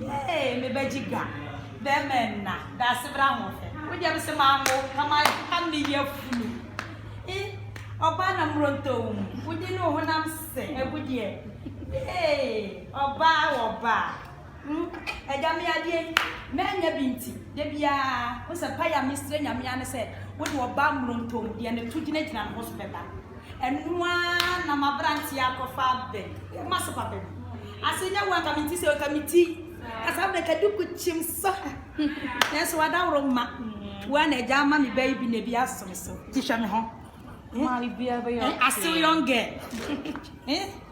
Hey me bɛgye ga bɛɛma nna daase bra ho hwɛ wo deɛ bɛsɛ maa mo na ma ha me yɛ funu i ɔbaa na mmoronto wo mu wo di ne wo honam sɛ ɛbo deɛ hey ɔbaa wɔ ɔbaa hmm ɛda me adeɛ yi mɛnyɛ bi nti da biara wo sɛ pa yɛ a mesrɛ nyame ane sɛ wo de ɔbaa mmoronto mu deɛ ne to gyinagyina ne ho so bɛba Ɛno ara na m'aberanteɛ akɔfa abɛ. Woyɛ mase papa bi. Ase nyɛ wo anka menti sɛ ɔka me ti. Kasa abɛ ka duku kyim so. Nanso wadaworo ma. Wo ara na agya ama me bɛ yi bi na ebi aso me so. Ti hwɛ me ho. Ma ebi abɛyɛ. Asew young girl.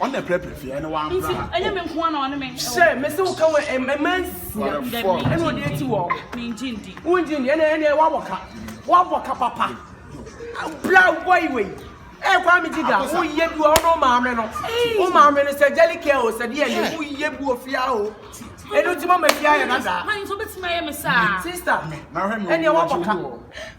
ɔno na ɛpɛrɛpɛrɛ fie ɛne wa mbra ha. ɛnyɛ mi nko ara na ɔne mi. sɛ mesi wo kan wɔ ɛmɛ nsia ɛna ɔde eti wɔ. mi ngye ndi. wo ngye ndi ɛna ɛna wabɔ ka wabɔ ka papa bra bɔyi wei ɛyɛ kwan mi gyiga wo yɛ bi wɔ ɔno wo maame no wo maame no sɛ jelly care o sɛ deɛ yɛ wo yɛ bi wɔ fia o ɛnu ti ma ma fia yɛ dada. sista ɛna wabɔ ka.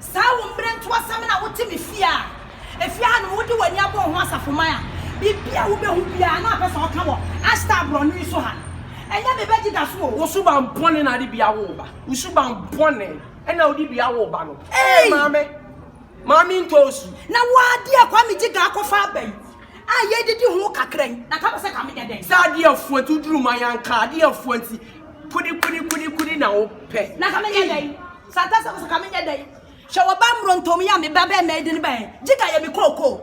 Saa wo mmerɛntoasɛm no a wote me fie a efie ha nom wode w'ani abɔ ho asafoman a biribi a wobɛhu biara na wapɛ sɛ ɔka wɔ Ashtar aborɔno yi so ha. Ɛnyɛ me bɛgye da so o. Wo suban bɔne na ade bi awo wo ba. Wo suban bɔne na wode bi awo wo ba no. Ee maame, maame ntɔ osu. Na wo adeɛ Kwame Gyega akɔfa aba yi a yɛredidi ho kakra yi, na ka bɔ sɛ ka menyɛ dɛn? Sɛ adeɛ afua nti woduru ma yɛanka, adeɛ afua nti kudi kudi kudi kudi na wopɛ. Na ka menyɛ dɛn? Santa sɛ woso ka menyɛ dɛn hwɛ wɔba mmrontom yɛ a me ba bɛɛ mɛdi ne bɛn gyika yɛ me kookoo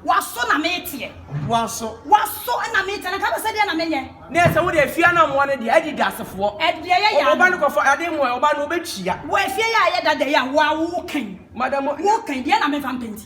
waso na meteɛ waso waso na meteɛ na ka bɛ sɛ deɛ na menyɛ ne ɛsɛ wo deɛ fie anammoa no deɛ adi dasefoɔ ɛdeɛ yɛ yɛ ɔba no kɔfa ade mu ɔba no wobɛtua wɔ afie yɛ a yɛ dada yɛ a wo a wo kan madam wo kan deɛ na mefa mpɛnti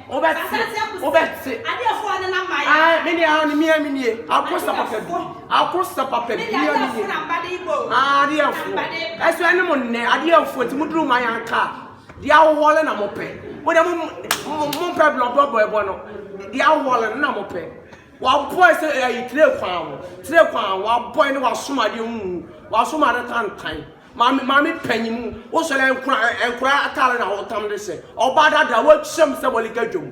wobɛte wobɛte adeɛfoɔ ne na mayɛ ah me ne ah ne mia me nie akosa papa bi akosa papa bi mia me nie ah adeɛfoɔ ɛso ɛne mo nnɛ adeɛfoɔ ti mo duru ma yɛn aka deɛ ahohɔle na mo pɛ mo deɛ mo mo pɛ blɔblɔ bɔɛbɔ no deɛ ahohɔle no na mo pɛ wabɔ ɛsɛ ɛyi tire kwan ho tire kwan ho wabɔ ɛne wasoma adeɛ mu wasoma adeɛ tantan. Maame maame panyin mu wosɔre nkora nkora atare na hotam de sɛ ɔbaa dada wɔ hyɛm sɛ bɔle gadwom.